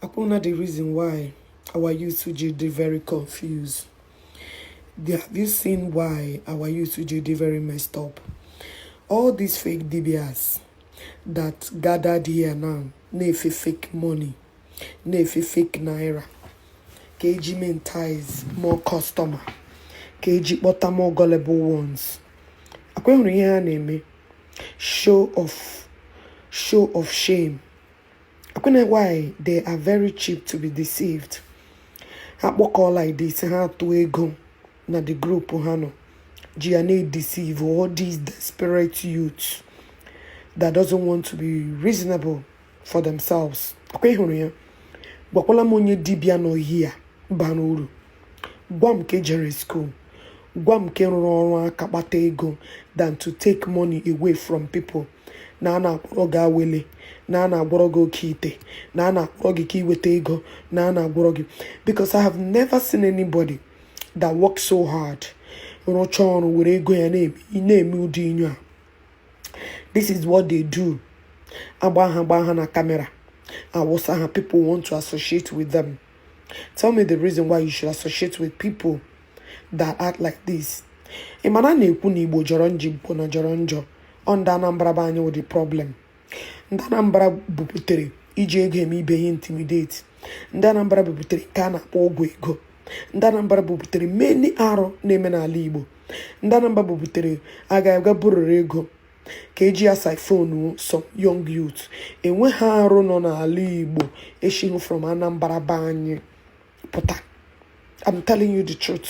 akwụrụ na the reason why our youth ji dey very confused have you seen why our youth ji dey very messed up all these fake dibias that gathered here now na-efe fake money na-efe fake naira ka eji mentize more customer ka eji kpọta more gullible ones akwa hụrụ ihe ha na-eme show of show of shame ọ kwanụ why they are very cheap to be deceived ha kpọkọọ like this ha atụ ego na the group ha nọ ji ya na-edeceive all these desperate youths that doesn't want to be reasonable for themselves akwa ị hụrụ ya gwakwala m onye dibịa nọ here bara uru gwa m nke jere school gwa m nke rụrụ ọrụ aka kpata ego than to take money away from people na a na-agwọrọ gị awele na a na-agwọrọ gị oke ite na a na-akwụrọ gị ka iweta ego na a na-agwọrọ gị because I have never seen anybody that works so hard rụcha ọrụ were ego ya na-eme ụdị ihe a this is what they do a gbaa ha gbaa ha na camera awụsa ha people want to associate with them tell me the reason why you should associate with people that act like this ị ma na a na-ekwu na igbo jọrọ njọ igbo na jọrọ njọ ọ ndị Anambra be anyị wụ the problem ndị Anambra buputere iji ego eme ibe ha intimidate ndị Anambra buputere nke a na-akpọ ọgwụ ego ndị Anambra buputere many arụ na-eme n'ala Igbo ndị Anambra buputere a ga-aga bururu ego ka eji asiphon some young youth enweghị arụ nọ n'ala Igbo eshighị from Anambra be anyị pụta I'm telling you the truth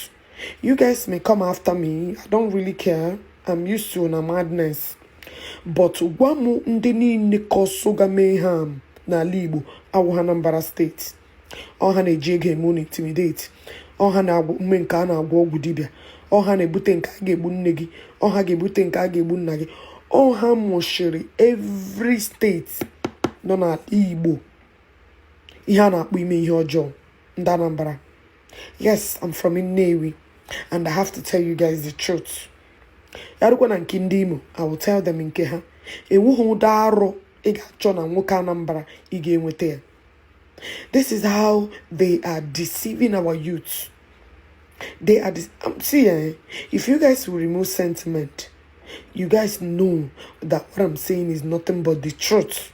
You guys may come after me. I don't really care. I'm used to una madness. But gwa m ndị niile causega mayhem n'ala Igbo awụhụ Anambra state. Ọ ha na-eji ego eme unu intimidate. Ọ ha na-agwa unu mee nke a na-agwọ ọgwụ dibịa. Ọ ha na-ebute nke a ga-egbu nne gị. Ọ ha ga-ebute nke a ga-egbu nna gị. Ọ ha mụshiri every state nọ n'ala Igbo. Ihe a na-akpọ ime ihe ọjọọ ndị Anambra. yes i'm from Nnewi and i have to tell you guys the truth ya rukwa na nke ndị Imo i will tell them nke ha enweghị ụdị arụ ị ga-achọ na nwoke Anambra ị ga-enweta ya this is how they are deceiving our youth they are um, see eh, if you guys will remove sentiment you guys know that what i'm saying is nothing but the truth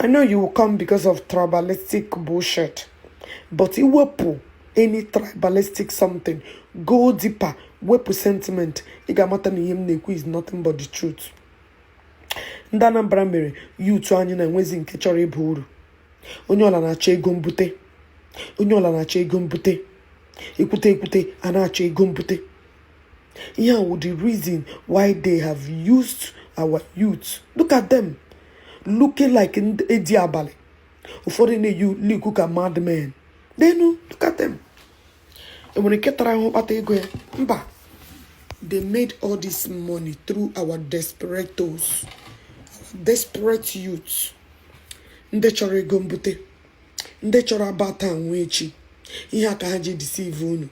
I know you will come because of tribalistic bullshit, but i wepụ any tribalistic something go deeper wepụ sentiment ị ga-amata na ihe m na-ekwu is nothing but the truth ndị Anambra mere youth anyị na enwezi nke chọrọ ịba uru onye ọla na-achọ ego mbute onye ọla na-achọ ego mbute ekwute ekwute a na-achọ ego mbute ihe a wụ the reason why they have used our youth look at them looking like edi abalị ụfọdụ na-eyi like ka madmen lenu look at them enwere nke tara ahụ kpata ego ya mba they made all this money through our desperados desperate youth ndị chọrọ ego mbute ndị chọrọ aba taa anwụ echi ihe a ka ha ji deceive unu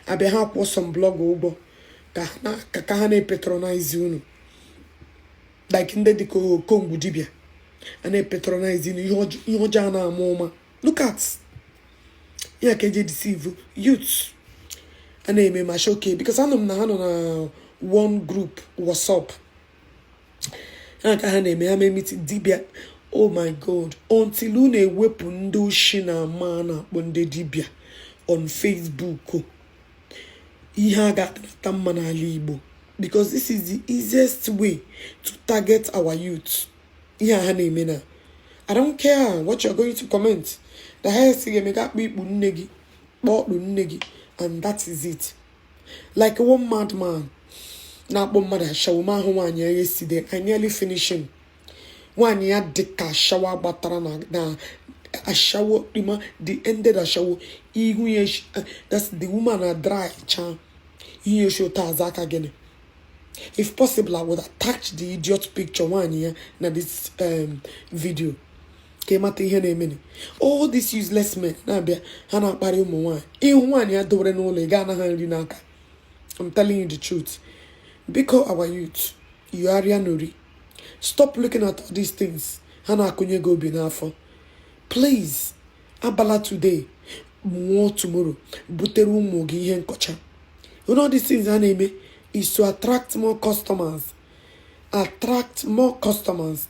abịa ha akwụọ some blog ụgwọ ka ha na- ka ka ha na-epatronize unu like ndị dịka okongwu dibịa a na-epatronize unu ihe ọjọ- ihe ọjọọ a na-ama ụma look at ihe a ka eji deceive youth a na-eme ma shock because anụ m na ha nọ na one group whatsapp ha ka ha na-eme ha mee meeting dibịa oh my god until unu ewepụ ndị oshi na ama a na-akpọ ndị dibịa on facebook ihe a ga-adịnata mma n'ala igbo because this is the easiest way to target our youth ihe a ha na-eme na I don't care what you're going to comment. The highest thing ị ga-eme ga-akpọ ikpu nne gị, kpọọ ọtụ nne gị, and that is it. like one madman na-akpọ mmadụ ashawo ma ahụ nwaanyị ya yesterday I nearly finish him nwaanyị ya dị ka ashawo agbatara na na ashawo rima the ended ashawo ihu ya eshi- eh, that's the woman adry cha ihu ya eshi ụta aza aka gịnị if possible I would attach the idiot picture nwaanyị ya na this um, video ka ị mata ihe na-emeni all these useless men na-abịa ha na-akparị ụmụ nwaanyị ị hụ nwaanyị ya dowere n'ụlọ ị gaa anaghị nri n'aka I'm telling you the truth biko our youth yigharịa nori stop looking at all these things ha na-akụnye gị obi n'afọ please abala today nwụọ tomorrow butere ụmụ gị ihe nkọcha you know these things ha na-eme is to attract more customers attract more customers